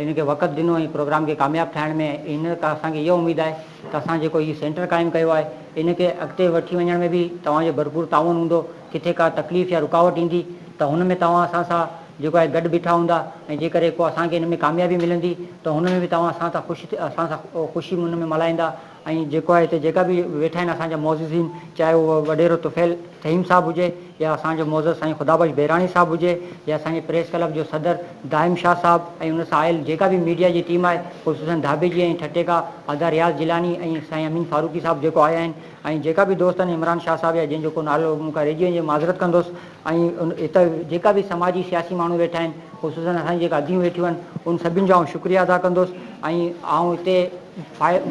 ان کي وقت ڏنو ۽ پروگرام کي ڪامياب ٺاهڻ ۾ ان ڪا اسان کي اها اميد آهي ته اسان جيڪو هي سينٽر قائم ڪيو آهي ان کي اڳتي وٺي وڃڻ ۾ به توهان جو ڀرپور تعاون هوندو ڪٿي ڪا تڪليف يا رڪاوٽ ايندي ته هن ۾ توهان اسان سان جيڪو آهي گڏ بيٺا هوندا ۽ جيڪڏهن ڪو اسان کي ان ۾ ڪاميابي ملندي ته هن ۾ به توهان اسان سان خوش اسان سان خوشي ان ۾ ملهائيندا. ۽ جيڪو آهي هتي جيڪا به ويٺا آهن اسان جا معززين چاهي هو وڏيرو طفيل فهيم صاحب هجي يا اسان جو معزز سائين خدا بخش بهراڻي صاحب هجي يا اسان جي پريس ڪلب جو صدر دائم شاهه صاحب ۽ ان سان آيل جيڪا به ميڊيا جي ٽيم آهي خصوصن ڌاٻي جي ۽ ٺٽي کان ادا رياض جيلاني ۽ سائين امين فاروقي صاحب جيڪو آيا آهن ۽ جيڪا به دوست آهن عمران شاهه صاحب يا جنهن جو ڪو نالو مون کان رهجي وڃي معذرت ڪندس ۽ اتي جيڪا به سماجي سياسي ماڻهو ويٺا آهن خصوصن اسان جي جيڪا اديون ويٺيون آهن ان سڀن جو آئون شڪريه ادا ڪندوس ۽ آئون اتي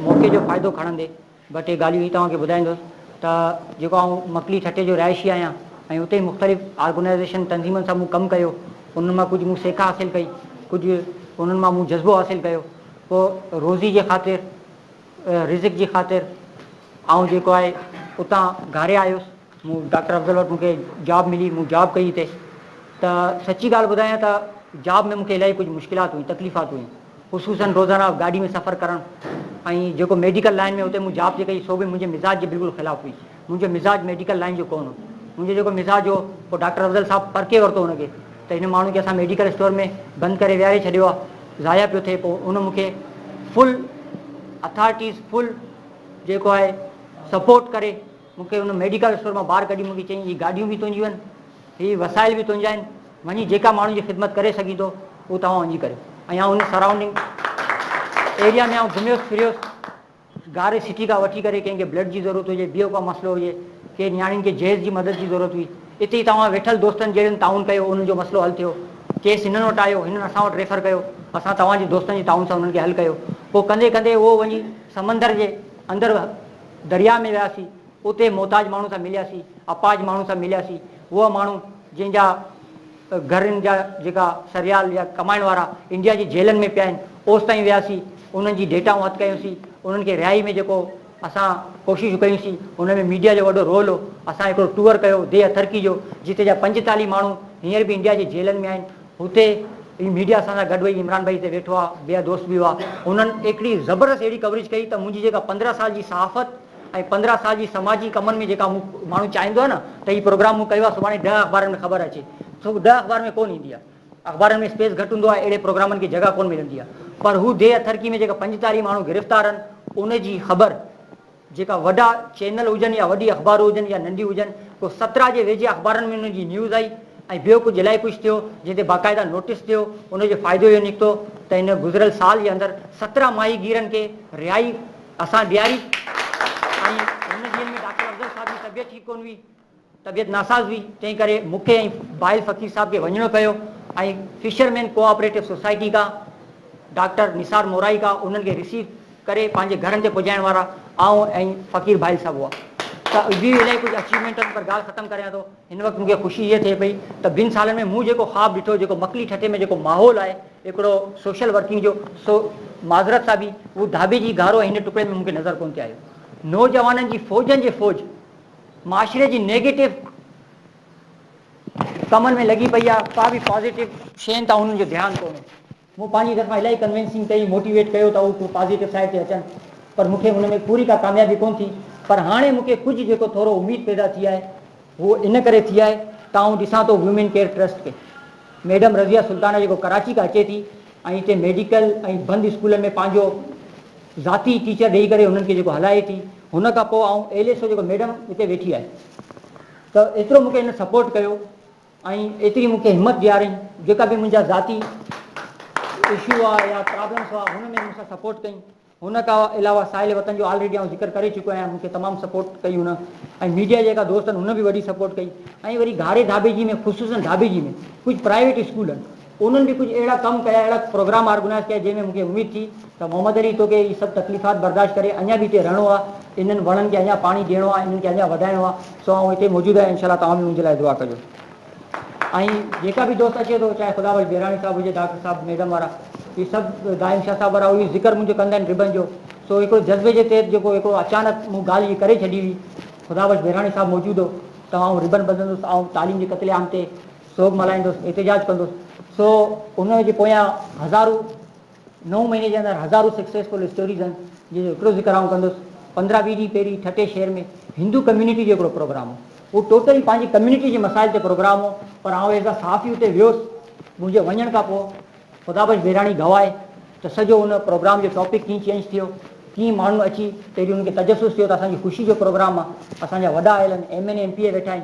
موقعي جو فائدو کڻندي ٻه ٽي ڳالهيون هي توهان کي ٻڌائيندوس ته جيڪو آئون مڪلي ٺٽي جو رهائشي آهيان ۽ اتي ئي مختلف آرگنائيزيشن تنظيمن سان مون ڪم ڪيو انهن مان ڪجهه مون سيک حاصل ڪئي ڪجهه انهن مان مون جذبو حاصل ڪيو پوء روزي جي خاطر رزق جي خاطر آئون جيڪو آهي اتان گهاري آيس. مون ڊاڪٽر افضل وٽ مون کي جاب ملي مون جاب ڪئي اتي ته سچي ڳالهه ٻڌايان ته جاب ۾ مون کي الاهي ڪجهه مشڪلات هيون تڪليفات هيون خصوصن روزانه گاڏي ۾ سفر ڪرڻ ۽ جيڪو ميڊيڪل لائن ۾ اتي مون جاب جي ڪئي سو به منهنجي مزاج جي بلڪل خلاف هئي منهنجو مزاج ميڊيڪل لائن جو ڪون هو منهنجو جيڪو مزاج هو پوء ڊاڪٽر افضل صاحب پرکي ورتو ان کي ته هن ماڻهو کي اسان ميڊيڪل اسٽور ۾ بند ڪري ويهاري ڇڏيو آهي ضايع پيو ٿئي پوء ان مون کي فل اٿارٽيز فل جيڪو آهي سپورٽ ڪري مون کي ان ميڊيڪل اسٽور مان ٻاهر ڪڍي مون کي چيائين هي گاڏيون به تنهنجيون آهن، هي وسائل به تنهنجا آهن، وڃي جيڪا ماڻهن جي خدمت ڪري سگهين ٿو اهو توهان وڃي ڪريو ۽ آئون ان سرائونڊنگ ايريا ۾ آئون گهميس ڦريس گاري سٽي کان وٺي ڪري ڪنهن کي بلڊ جي ضرورت هجي ٻيو ڪا مسئلو هجي ڪي نياڻين کي جهيز جي مدد جي ضرورت هئي اتي توهان ويٺل دوستن جهڙن تعاون ڪيو انهن جو مسئلو حل ٿيو ڪيس هنن وٽ آيو هنن اسان وٽ ريفر ڪيو اسان توهان جي دوستن جي تعاون سان انهن کي حل ڪيو پوء ڪندي ڪندي اهو وڃي سمندر جي اندر درياء ۾ وياسين، اتي محتاج ماڻهن سان ملياسين، اپاهج ماڻهن سان ملياسين، اهي ماڻهو جن جا گهرن جا جيڪا سريال يا ڪمائڻ وارا انڊيا جي جيلن ۾ پيا آهن، اوستائين وياسين، انهن جي ڊيٽائون هٿ ڪيونسين، انهن کي رهائي ۾ جيڪو اسان ڪوششون ڪيونسين، ان ۾ ميڊيا جو وڏو رول هو، اسان هڪڙو ٽوئر ڪيو ديهه ٿرڪي جو، جتي جا پنجتاليهه ماڻهو هينئر به انڊيا جي جيلن ۾ آهن، هتي ئي ميڊيا اسان سان گڏ ويهي عمران ڀائي هتي ويٺو آهي، ٻيا دوست به هئا، انهن هڪڙي زبردست اهڙي ڪوريج ڪئي ته منهنجي جيڪا پندرهن سال جي صحافت ۽ پندرهن سال جي سماجي ڪمن ۾ جيڪا مون ماڻهو چاهيندو آهي نه ته هي پروگرام مون ڪيو آهي سڀاڻي ڏهه اخبارن ۾ خبر اچي سو ڏهه اخبارن ۾ ڪونه ايندي آهي اخبارن ۾ اسپيس گهٽ هوندو آهي اهڙي پروگرامن کي جڳهه ڪونه ملندي آهي پر هو ديهه اٿرڪي ۾ جيڪا پنجتاليهه ماڻهو گرفتار آهن ان جي خبر جيڪا وڏا چينل هجن يا وڏي اخبارون هجن يا ننڍيون هجن، ڪو سترا جي ويجهي اخبارن ۾ ان جي نيوز آئي ۽ ٻيو ڪو جلائي پوش ٿيو جنهن تي باقاعده نوٽيس ٿيو، ان جو فائدو اهو نڪتو ته هن گذريل سال جي اندر سترا ماهي گيرن کي رهائي اسان ڏياري ۽ هن جيل ۾ ڊاڪٽر افضل صاحب جي طبيعت ٺيڪ ڪونه هئي. طبيعت ناساز هئي، تنهن ڪري مون کي ۽ بائل فقير صاحب کي وڃڻو پيو ۽ fisherman cooperative society کان ڊاڪٽر نثار مورائي کان انهن کي رسيو ڪري پنهنجي گهرن تي پڄائڻ وارا آئون ۽ فقير بائل صاحب هئا ته اهي به الائي ڪجهه اچيومينٽن پر ڳالهه ختم ڪريان ٿو هن وقت مون کي خوشي هيء ٿئي پئي ته ٻن سالن ۾ مون جيڪو خواب ڏٺو جيڪو مڪلي ٺٽي ۾ جيڪو ماحول آهي هڪڙو سوشل ورڪنگ جو سو معذرت سان به اهو ڌاٻي جي گهارو ۽ هن ٽڪڙي ۾ مون کي نظر ڪونه ٿي آيو نوجوانن جي فوجن جي فوج معاشري جي نيگيٽو ڪمن ۾ لڳي پئي آ ڪا به پازيٽو شين تان انهن جو ڌيان ڪونهي مون پنهنجي طرفان الائي ڪنوينسنگ ڪئي موٽيويٽ ڪيو ته هو پازيٽو سائيڊ تي اچن پر مون کي ان ۾ پوري ڪا ڪاميابي ڪونه ٿي پر هاڻي مون کي ڪجهه جيڪو ٿورو اميد پيدا ٿي آهي هو ان ڪري ٿي آهي ته آئون ڏسان ٿو وومين ڪيئر ٽرسٽ کي ميڊم رضيه سلطانه جيڪو ڪراچي کان اچي ٿي ۽ هتي ميڊيڪل ۽ بند اسڪولن ۾ پنهنجو ذاتي ٽيچر ڏيئي ڪري هنن کي جيڪو هلائي ٿي هن کان پوء آئون ايل ايس او جيڪو ميڊم اتي ويٺي آهي ته ايترو مونکي هن سپورٽ ڪيو ۽ ايتري مونکي همت ڏيارين جيڪا به منهنجا ذاتي اشو هئا يا پرابلمس هئا هن ۾ مونسان سپورٽ ڪئي هن کا علاوه ساحل وطن جو آلريڊي آئون ذڪر ڪري چڪو آهيان مونکي تمام سپورٽ ڪئي هن ۽ ميڊيا جيڪا دوستن هن به وڏي سپورٽ ڪئي ۽ وري گهاري ڌاٻي جي ۾ خصوصن ڌاٻي جي ۾ ڪجهه پرائيويٽ اسڪول آهن انهن به ڪجهه اهڙا ڪم ڪيا، اهڙا پروگرام آرگنائيز ڪيا، جنهن ۾ مون کي اميد ٿي ته محمد علي توکي هي سڀ تڪليفات برداشت ڪري اڃا به هتي رهڻو آهي، انهن وڻن کي اڃا پاڻي ڏيڻو آهي، انهن کي اڃا وڌائڻو آهي، سو آئون هتي موجود آهيان، انشاء الله توهان به منهنجي لاء دعا ڪجو. ۽ جيڪا به دوست اچي ٿو، چاهي خدا بخش بيراڻي صاحب هجي، ڊاڪٽر صاحب، ميڊم وارا، هي سڀ دائم شاهه صاحب وارا، اهو ئي ذڪر منهنجو ڪندا آهن ربن جو، سو هڪڙو جذبي جي تحت جيڪو هڪڙو اچانڪ مون ڳالهه جي ڪري ڇڏي هئي، خدا بخش بيراڻي صاحب موجود هو ته آئون ربن ٻڌندس، آئون تعليم جي قتل عام تي. سوگ ملهائيندس، احتجاج ڪندس، سو ان جي پويان هزارون نو مهيني جي اندر هزارون سڪسيسفل اسٽوريز آهن جن جو هڪڙو ذڪر آئون ڪندس، پندرهن ويهه ڏينهن پهرين ٺٽي شهر ۾ هندو ڪميونٽي جو هڪڙو پروگرام هو، اهو ٽوٽلي پنهنجي ڪميونٽي جي مسائل تي پروگرام هو پر آئون ايز اي صحافي اتي ويس، منهنجي وڃڻ کان پوء خدا بخش بهراڻي گواهي ته سڄو ان پروگرام جو ٽاپڪ ڪيئن چينج ٿيو، ڪيئن ماڻهن اچي پهرين انهن کي تجسس ٿيو ته اسان جي خوشي جو پروگرام آهي، اسان جا وڏا آيل آهن، M N A, M P A ويٺا آهن.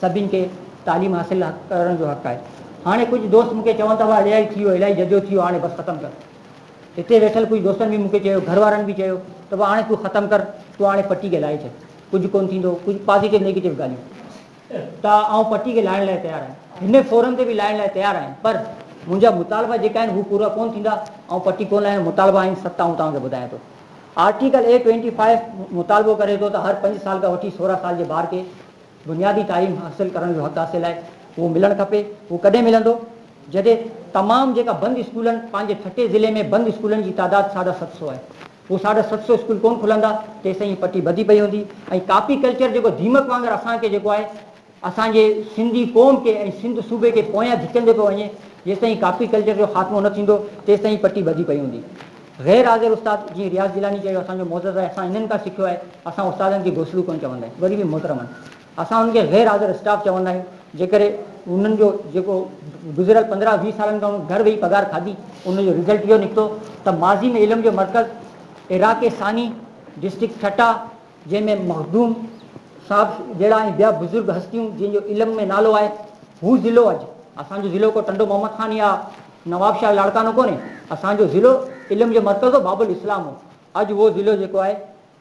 سڀني کي تعليم حاصل ڪرڻ جو حق آهي. هاڻي ڪجهه دوست مون کي چون ٿا واهه الائي ٿي ويو الائي ججو ٿي ويو هاڻي بس ختم ڪر. هتي ويٺل ڪجهه دوستن به مون کي چيو گهر وارن به چيو ته واهه هاڻي تون ختم ڪر تون هاڻي پٽي کي لاهي ڇڏ ڪجهه ڪونه ٿيندو ڪجهه پازيٽو نيگيٽو ڳالهيون ته آئون پٽي کي لاهڻ لاء تيار آهيان هن فورم تي به لاهڻ لاء تيار آهيان پر منهنجا مطالبا جيڪا آهن هو پورا ڪونه ٿيندا آئون پٽي ڪونه لاهيان مطالبا آهن ست آئون توهان کي ٻڌايان ٿو آرٽيڪل اي ٽوئنٽي فائيو مطالبو ڪري ٿو ته هر پنج سال کان وٺي سورهن سال جي ٻار کي بنيادي تعليم حاصل ڪرڻ جو حق حاصل آهي اهو ملڻ کپي اهو ڪڏهن ملندو جڏهن تمام جيڪا بند اسڪولن پنهنجي ٺٽي ضلعي ۾ بند اسڪولن جي تعداد ساڍا ست سو آهي اهو ساڍا ست سو اسڪول ڪون کلندا تيسين هي پٽي ٻڌي پئي هوندي ۽ ڪاپي ڪلچر جيڪو ديمڪ وانگر اسان کي جيڪو آهي اسان جي سنڌي قوم کي ۽ سنڌ صوبي کي پويان ڌڪيندي پيو وڃي جيستائين ڪاپي ڪلچر جو خاتمو نه ٿيندو تيستائين هي پٽي ٻڌي پئي هوندي. غير حاضر استاد جيئن رياض جيلاني چيو اسان جو معزز آهي اسان انهن کان سکيو آهي اسان استادن کي گوسلو ڪونه چوندا آهيون وري به محترمن اسان انهن کي غير حاضر اسٽاف چوندا آهيون جنهن ڪري انهن جو جيڪو گذريل پندرهن ويهه سالن کان گهر ويهي پگهار کاڌي ان جو رزلٽ اهو نڪتو ته ماضي ۾ علم جو مرڪز عراق ثاني ڊسٽرڪٽ ٺٽا جنهن ۾ مخدوم صاحب جهڙا ۽ ٻيا بزرگ هستيون جن جو علم ۾ نالو آهي هو ضلعو اڄ اسان جو ضلعو ڪو ٽنڊو محمد خان يا نوابشاهه لاڙڪاڻو ڪونهي، اسان جو ضلعو علم جو مرڪز هو، باب الاسلام هو، اڄ اهو ضلعو جيڪو آهي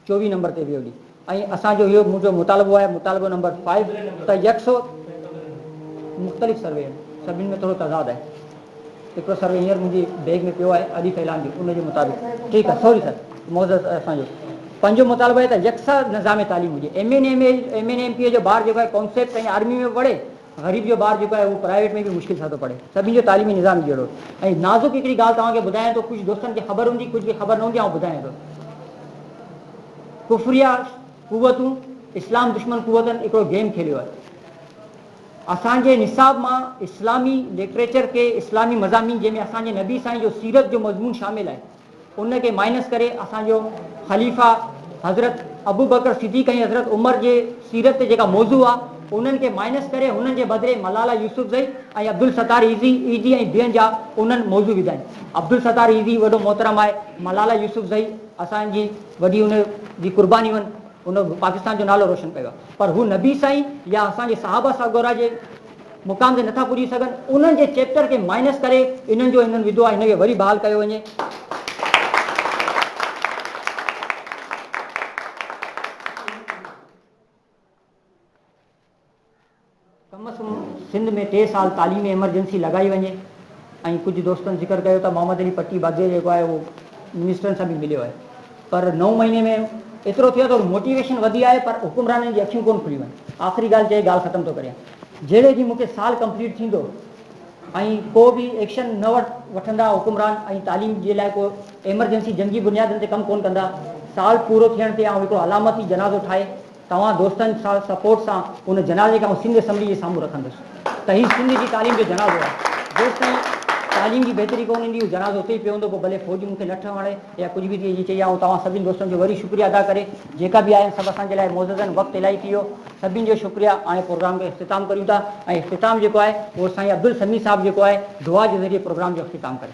چوويهه نمبر تي ويو ڙي ۽ اسان جو اهو منهنجو مطالبو آهي مطالبو نمبر فائيو ته يڪسو مختلف سروي آهن سڀني ۾ ٿورو تضاد آهي هڪڙو سروي هينئر منهنجي بيگ ۾ پيو آهي ادي فيلان جو ان جي مطابق ٺيڪ آهي سوري سر معذرت اسان جو پنجو مطالبو آهي ته يڪسا نظام تعليم هجي M N M M N M P جو ٻار جيڪو آهي ڪانسيپٽ ۽ آرمي ۾ پڙهي غريب جو ٻار جيڪو آهي اهو پرائيويٽ ۾ به مشڪل سان ٿو پڙهي. سڀني جو تعليمي نظام ئي جهڙو. ۽ نازڪ هڪڙي ڳالهه توهان کي ٻڌايان ٿو، ڪجهه دوستن کي خبر هوندي ڪجهه کي خبر نه هوندي آئون ٻڌايان ٿو. ڪفريه قوتون اسلام دشمن قوتن هڪڙو گيم کيليو آهي. اسان جي نصاب مان اسلامي لٽريچر ڪي اسلامي مضامين جنهن ۾ اسان جي نبي سائين جو سيرت جو مضمون شامل آهي. ان کي مائنس ڪري اسان جو خليفه حضرت ابوبڪر صديق ۽ حضرت عمر جي سيرت تي جيڪا موضوع آ انهن کي مائنس ڪري هنن جي بدري ملالا يوسفزئي ۽ عبدالستار ايزي ايزي ۽ ٻين جا انهن موضوع وڌا آهن عبدالستار ايزي وڏو محترم آهي ملالا يوسفزئي اسان جي وڏي ان جي قرباني هن پاڪستان جو نالو روشن ڪيو آهي پر هو نبي سائين يا اسان جي صحابه سڳورا جي مقام تي نٿا پڄي سگهن انهن جي چيپٽر کي مائنس ڪري انهن جو هنن وڌو آهي هن کي وري بحال ڪيو وڃي. ڪم از ڪم سنڌ ۾ ٽي سال تعليمي ايمرجنسي لڳائي وڃي ۽ ڪجهه دوستن ذڪر ڪيو ته محمد علي پٽي باگڙي جيڪو آهي اهو منسٽرن سان به مليو آهي. پر نو مهيني ۾ ايترو ٿيو ته موٽيويشن وڌي آهي پر حڪمرانن جي اکيون ڪون کليون آهن. آخري ڳالهه چئي ڳالهه ختم ٿو ڪريان جهڙي جي مون کي سال ڪمپليٽ ٿيندو ۽ ڪو به ايڪشن نه وٺندا حڪمران ۽ تعليم جي لاء ڪو ايمرجنسي جنگي بنيادن تي ڪم ڪون ڪندا سال پورو ٿيڻ تي آئون هڪڙو علامتي جنازو ٺاهي توهان دوستن سان سپورٽ سان ان جنازي کي آئون سنڌ اسيمبلي جي سامهون رکندس ته هي سنڌ جي تعليم جو جنازو آهي جيستائين تعليم جي بهتري ڪونه ايندي اهو جنازو اتي ئي پيو هوندو پوء ڀلي فوج مون کي لٺ هڻي يا ڪجهه به ٿئي جي چئي آئون توهان سڀني دوستن جو وري شڪريه ادا ڪري جيڪا به آيا سڀ اسان جي لاء معزز آهن وقت الائي ٿي ويو سڀني جو شڪريه هاڻي پروگرام کي اختتام ڪريون ٿا ۽ اختتام جيڪو آهي اهو سائين عبدالسميع صاحب جيڪو آهي دعا جي ذريعي پروگرام جو اختتام ڪري